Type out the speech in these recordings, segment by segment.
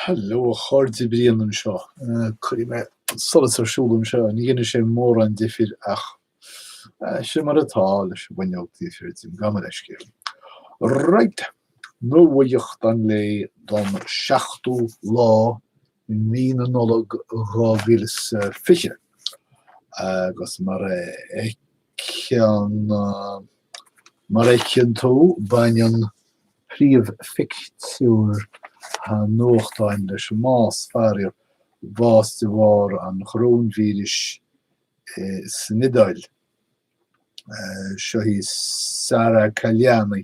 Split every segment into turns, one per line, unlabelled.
Hello a chairde, Brian anseo. Cuirfidh mé an solas ar siúl anseo, ní dhéanfaidh sé mórán difir ach sin mar atá leis an bhfuinneog taobh thiar díom, gabh mo leithscéal. Right, nuaíocht an lae don 7ú lá i mí na Nollag 2020 agus mar a ceann, mar a fheiceann tú, baineann príomhphictiúr an nuachtáin leis an mbás. Faraor, bás de bharr an choróinvíris san Iodáil. Seo í Sara Caliani,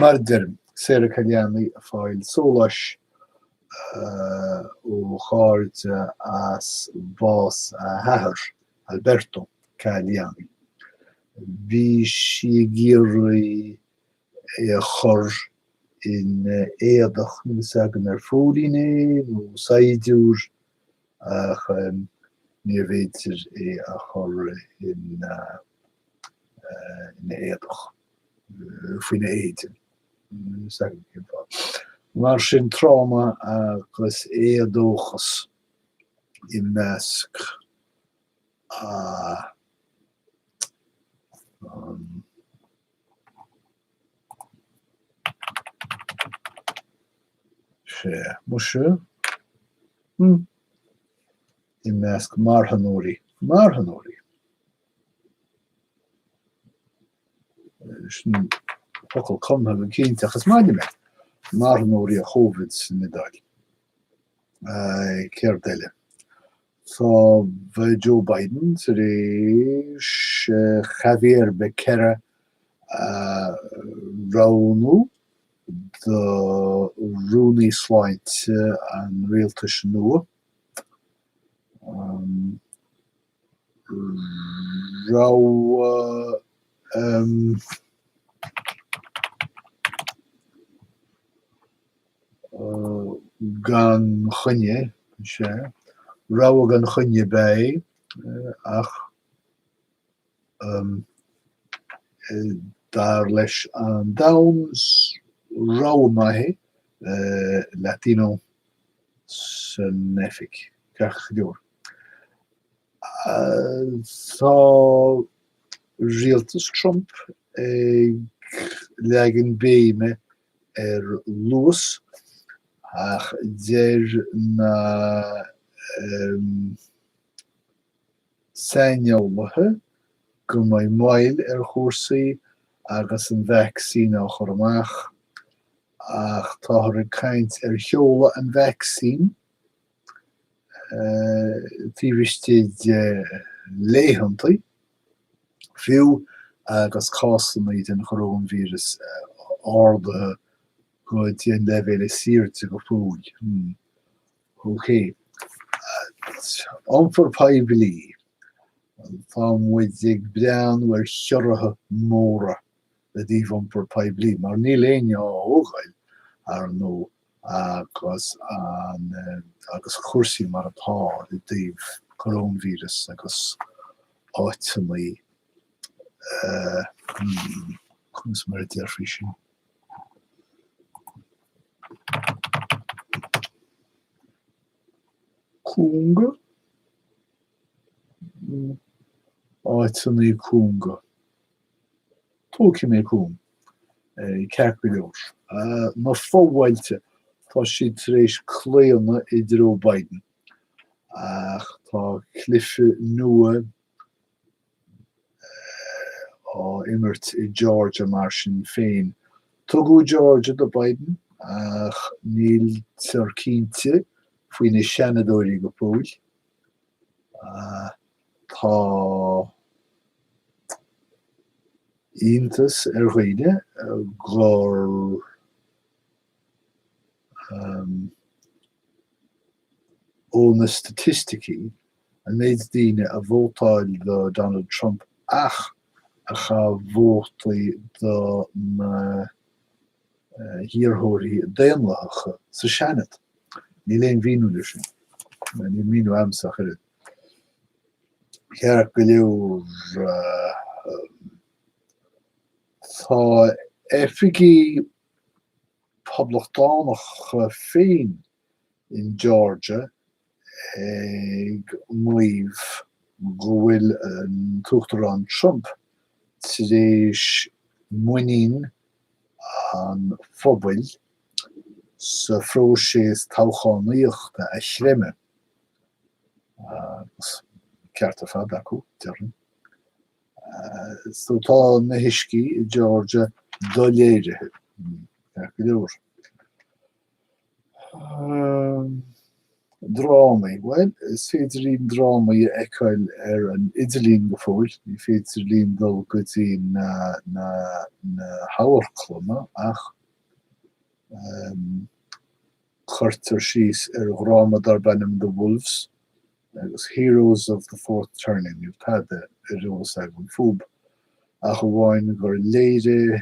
Mar a deirim, Sara Caliani ag fáil sóláis ó chairde as bás a hathar, Alberto Caliani. Bhí sí ag iarraidh é a chur in éadach, níl fhios agam ar phóilín é nó saighdiúir ach níorbh fhéidir é a chur ina éadach, faoina éide. Mar sin tráma agus éadóchas i measc an sé muise hmm i measc marthanóirí marthanóirí sin focal cumtha go cinnte ach is maith liom é marthanóirí an Chóivid san Iodáil céard eile tá Joe Biden tar éis Xavier Becerra a roghnú do Rúnaí Sláinte an rialtais nua, rogha gan choinne, is ea, rogha gan choinne ab ea é, ach. Dar leis an Times, rogha maith é Latino san oifig, ceart go leor. Tá rialtas Trump ag leagan béime ar luas ach deir na. Saineolaithe go mbeidh moill ar chúrsaí agus an vacsaín á chur amach, ach táthar ag caint ar sheoladh an vacsaín taobh istigh de laethanta, fiú agus cásanna den choróinvíreas ardaithe go dtí an leibhéal is airde go fóill. Ok. Iompar poiblí, tá muid ag breathnú ar chiorruithe móra i dtaobh iompar poiblí mar níl éinne á thógáil, ar ndóigh, agus an, agus cúrsaí mar atá i dtaobh coróna víreas agus áiteanna, eh, hmm, conas mar a déarfaí sin? cúnga, áiteanna cúnga. Tógfaidh mé cúng ceart go leor. Na fo-bhailte, tá siad tar éis claonadh i dtreo Biden ach tá cluiche nua á imirt i Georgia mar sin féin. Tugadh Georgia do Biden ach níltear cinnte faoi na Seanadóirí go fóill. Tá iontas ar dhaoine gur. ó na staitisticí, an méid daoine a vótáil do Donald Trump ach a chaith vótaí do na hiarrthóirí Daonlathacha sa Seanad. Níl aon mhíniú leis sin. Níl míniú agamsa ach oiread. Ceart go leor tá oifigigh Poblachtánacha féin in Georgia ag maíomh go bhfuil an tUachtarán Trump tar éis muinín an phobail sa phróiseas toghchánaíochta a chreimeadh, an ceart ar fad acu, déarfainn. So tá na huiscí i Georgia doléirithe, ceart go leor. Drámaí, bhuel, is féidir linn drámaí a fheiceáil ar an idirlíon go fóill, ní féidir linn dul go dtí na, na hamharclanna ach cuirtear síos ar dhráma darb ainm The Wolves agus Heroes of the Fourth Turning níl tada ar eolas agam fúb ach amháin gur léirithe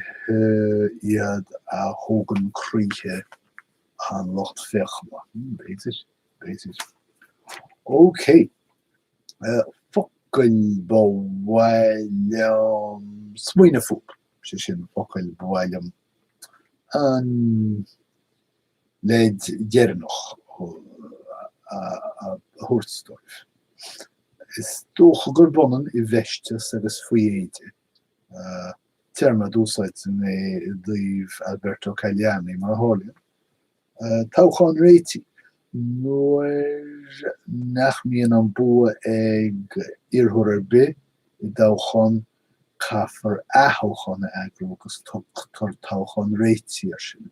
iad a thógann croíthe an lucht féachana. B'fhéidir, b'fhéidir. OK. Focail ba mhaith liom smaoineamh fúb, sé sin, focail ba mhaith liom an leid dheireanach a thabhairt daoibh. Is dócha gurb ionann 'i bhfeisteas' agus 'faoi éide', téarma a d'úsáid mé i dtaobh Alberto Caliani, mar a tharlaíonn. Toghchán réitigh, nuair nach mbíonn an bua ag iarrthóir ar bith i dtoghchán, caithfear aththoghchán a eagrú agus tugtar toghchán réitigh air sin.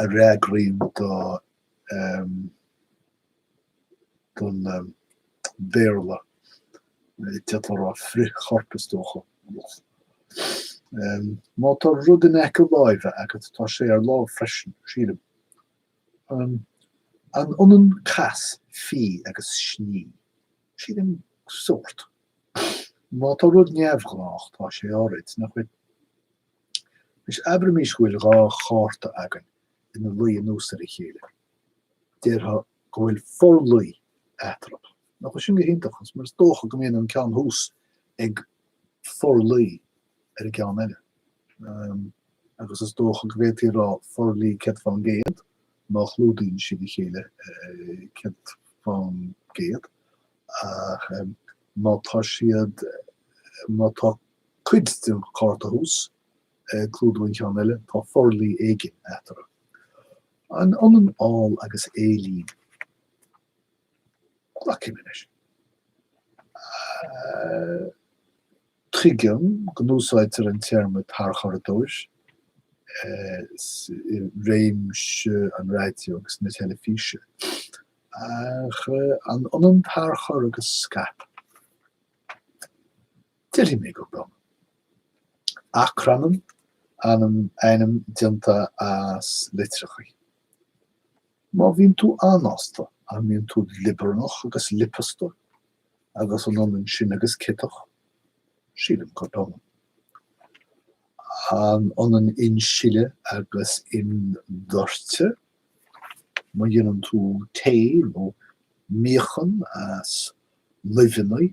a fhreagraíonn do em don em Béarla d'fhéadfá a rá frithchorp is dócha em má tá rud in aice láimhe agat tá sé ar lámh freisin sílim em an ionann cas fí agus sní sílim sórt má tá rud neamhghnách tá sé áirid nach bhfuil Anois abraimís go bhfuil dhá chárta againn ina luí anuas ar a chéile. Déarfá go bhfuil forluí eatarthu. Nach bhfuil sin go hiontach? Agus mar is dócha go mbíonn an ceann thuas ag forluí ar an gceann eile. Um, agus is dócha go bhféadfaí a rá forluí céad fán gcéad má chlúdaíonn siad a chéile eh, céad fán gcéad. Ach em, má tá siad má tá Cuid den chárta thuas, ag clúdú an cheann eile, tá forluí éigin eatarthu. An ionann áil agus éilín? Glacaimis. Tuigim go n-úsáidtear an téarma tarchuradóir i réimse an raidió agus na teilifíse, ach an ionann tarchur agus scaip? Déarfaidh mé gurb ionann. Acrainm, ainm déanta as litreacha. Má bhíonn tú anásta, an mbíonn tú liobarnach agus liopasta agus an ionann sin agus ciotach? Sílim gurb ionann. An ionann insileadh agus imdhoirteadh? Má dhéanann tú tae nó míochaine as luibheanna,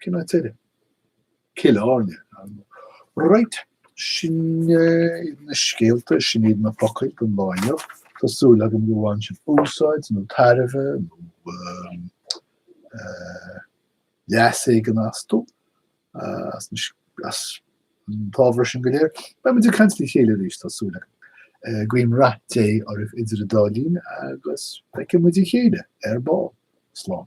Cén áit eile? Killarney. Right, sin na scéalta, sin iad na focail don lá inniu. Tá súil agam go mbaineann sibh úsáid nó tairbhe nó leas éigin astu. as an t-ábhar sin go léir. Beidh muid ag caint le chéile arís, tá súil agam. Guím rath Dé oraibh idir an dá linn agus feicfidh muid a chéile ar ball. Slán.